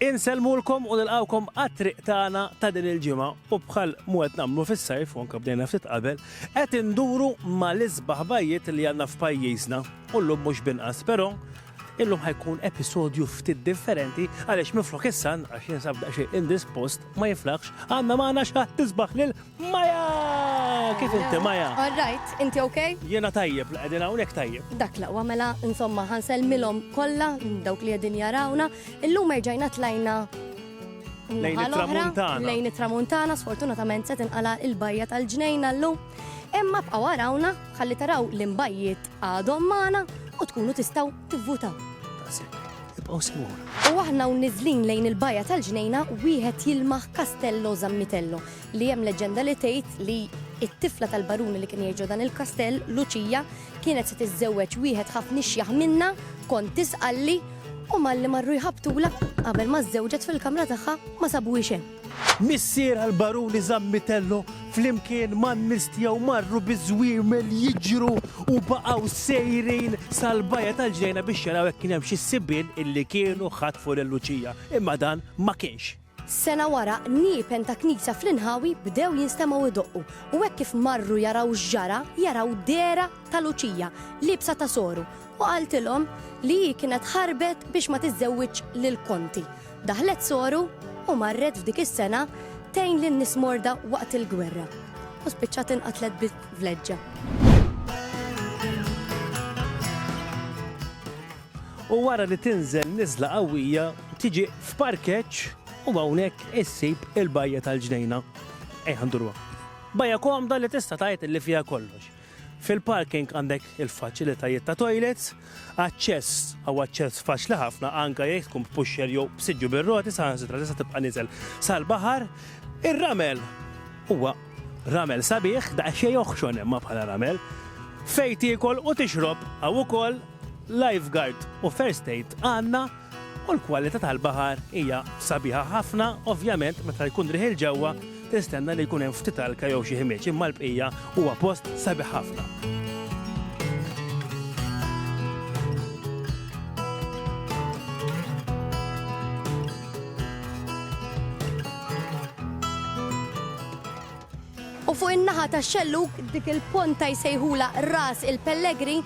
Insellmulkom u nilqgħukom għat-triq tagħna ta' din il-ġimgħa u bħal mu qed nagħmlu fis-sajf u anke bdejna ftit qabel, qed induru mal-isbaħ bajjiet li għandna f'pajjiżna u llum mhux b'inqas. Però, illum ħa jkun episodju ftit differenti għaliex minflok is-San, għax jinsab daqsxejn indispost, ma jiflaħx, għandna magħna x'ħadd isbaħ lil Maya! Kif inti, Maya? All right, inti ok? Jiena tajjeb, qegħdin hawnhekk tajjeb. Dak l-aqwa mela, insomma, ħa nsellmilhom kollha dawk li qegħdin jarawna. Illum erġajna tlajna Lejn it-tramuntana. Lejn it-tramuntana, sfortunatament se tinqala' il-bajja tal-ġnejna llum. Imma bqgħu warawna ħalli taraw l-imbajjiet għadhom magħna u tkunu tistgħu tivvutaw. Ibqgħu smur. U aħna u niżlin lejn il-bajja tal-ġnejna wieħed jilmaħ Castello Zammitello li hemm leġġenda li tgħid li t-tifla tal-baruni li kien jgħix ġo dan il-kastell, Luċija, kienet se tiżżewweġ wieħed ħafna ixjaħ minnha, kont tisqalli, u malli marru jħabbtulha, qabel ma żżewġet fil-kamra tagħha ma sabuhiex hemm. Missierha l-baruni Zammitello flimkien man-nies tiegħu marru biż-żwiemel jiġru u baqgħu sejrin sal-bajja tal-ġnejna biex jaraw jekk kien hemm xi sibien illi kienu ħatfu lil Luċija, imma dan ma kienx. Sena wara, niepen ta' knisja fl-inħawi bdew jinstemgħu jdoqqu u hekk kif marru jaraw x'ġara, jaraw dehra ta' Luċija liebsa ta' soru u qaltilhom li hi kienet ħarbet biex ma tiżżewwiġx lil Konti. Daħlet soru u marret f'dik is-sena tgħin lin-nies morda waqt il-gwerra u spiċċat inqatlet bi vleġġa. u wara li tinżel niżla qawwija tiġi f'parkeġġ u hawnhekk issib il-bajja tal-ġnejna. Ejja nduruha. Bajja komda li tista' tgħid li fiha kollox. Fil-parking għandek il-faċilitajiet ta' toilets, aċċess għaw aċċess faċli ħafna anke jekk tkun b'pusher jew b'siġġu bir-roti saħansitra tista' tibqa' niżel sal-baħar. Ir-ramel huwa ramel sabiħ daqsxejn joħxon imma bħala ramel. Fejn tiekol u tixrob hawn ukoll Lifeguard u First Aid għandna u l-kwalità tal-baħar hija sabiħa ħafna, ovvjament meta jkun riħ 'il ġewwa tistenna li jkun hemm ftit alka jew xi ħmieġ imma l-bqija huwa post sabiħ ħafna. U fuq in-naħa tax-xellug dik il-ponta jsejħulha Ras il-Pellegrin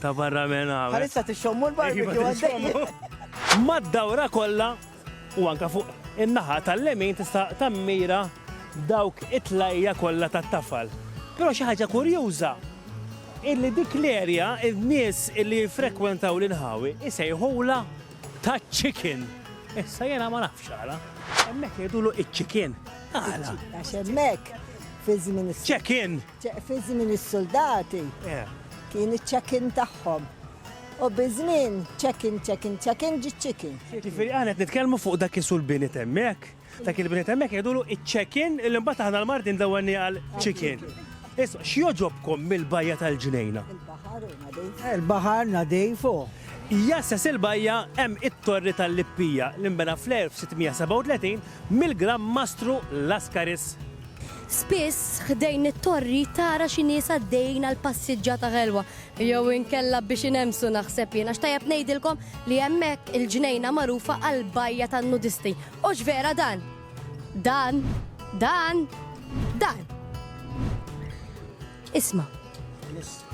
Ta' barra minn hawn. Bħalissa tixxommu l-barbecue għaddej. Mad-dawra kollha u anke fuq in-naħa tal-lemin tista' tammira dawk it-tlajja kollha tat-tafal. Però xi ħaġa kurjuża hi li dik l-erja n-nies li jiffrekwentaw l-inħawi jsejħulha taċ-ċikien. Issa jiena ma nafx għala. Hemmhekk jgħidulu ċ-ċikien. Għala? Għax hemmhekk fiż-żmien. Ċekien! Fi żmien is-suldati kien iċ-check-in tagħhom. U bi żmien check-in, check-in, check-in ġie chicken. Jiġifieri aħna qed nitkellmu fuq dak isu l-binit hemmhekk. Dak il-binit hemmhekk jgħidulu iċ-check-in li mbagħad aħna l-Maltin dawwalnieh għal chicken. Isma', x'jogħġobkom mill-bajja tal-Ġnejna? Il-baħar hu nadif. Il-baħar nadif hu. Jassas il-bajja hemm it-Torri tal-Lippija li nbena fl-1637 Mill-Gran Mastru Laskaris. Spiss, ħdejn it-torri tara xi nies għaddejjin għal passiġġata ħelwa, jew inkella biex inemmsu naħseb jien, għax tajjeb ngħidilkom li hemmhekk il-ġnejna magħrufa għall-bajja tan-nudisti. Hux vera dan? Dan. Dan. Dan. Isma'.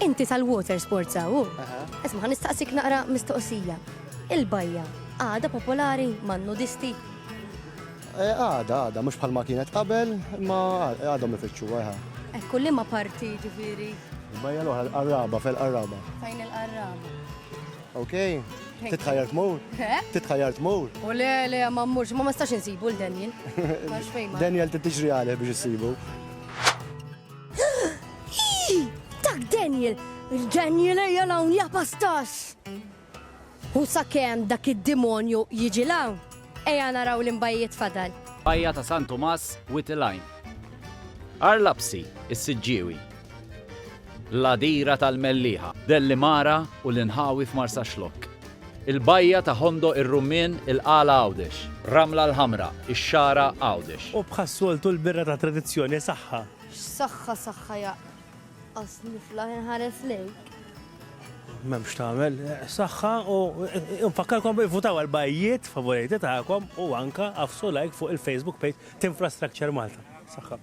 Inti tal-water sports hawn hu? Isma' ħa nistaqsik naqra mistoqsija. Il-bajja għadha popolari man-nudisti? Eh, għada, għada, mhux bħalma kienet qabel, ma għadhom ifittxu għajħa. Ekku li ma parti ġifiri. Bajja l-oħra l-qarraba, fil-qarraba. Fejn il-qarraba. Ok, titħajjar tmur? Eh? Titħajjar tmur? U le, le, ma mmurx, ma ma stax insibu l-Daniel. Daniel titġri għalih biex issibu. Dak Daniel! Il-Daniel ejja hawn ja pastax! U sakemm dak id-dimonju jiġi hawn, ejja naraw l-inbajjiet fadal. Bajja ta' San Tumas wied il-għajn. Għar Lapsi, is-Siġġiewi. L-Għadira tal-Mellieħa. Dellimara u l-inħawi f'Marsaxlokk. Il-Bajja ta' Ħondoq ir-Rummien, il-Qala Għawdex. Ramla l-Ħamra, ix-Xagħra Għawdex. U bħas-soltu l-birra ta' tradizzjoni saħħa. X'saħħa saħħa jaqq. Għas niflaħ inħares lejk. M'hemm x'tagħmel. Saħħa u nfakkarkom ivvutaw għal bajjiet favoriti tagħkom u anke agħfsu like fuq il-Facebook page t'Infrastructure Malta. Saħħa.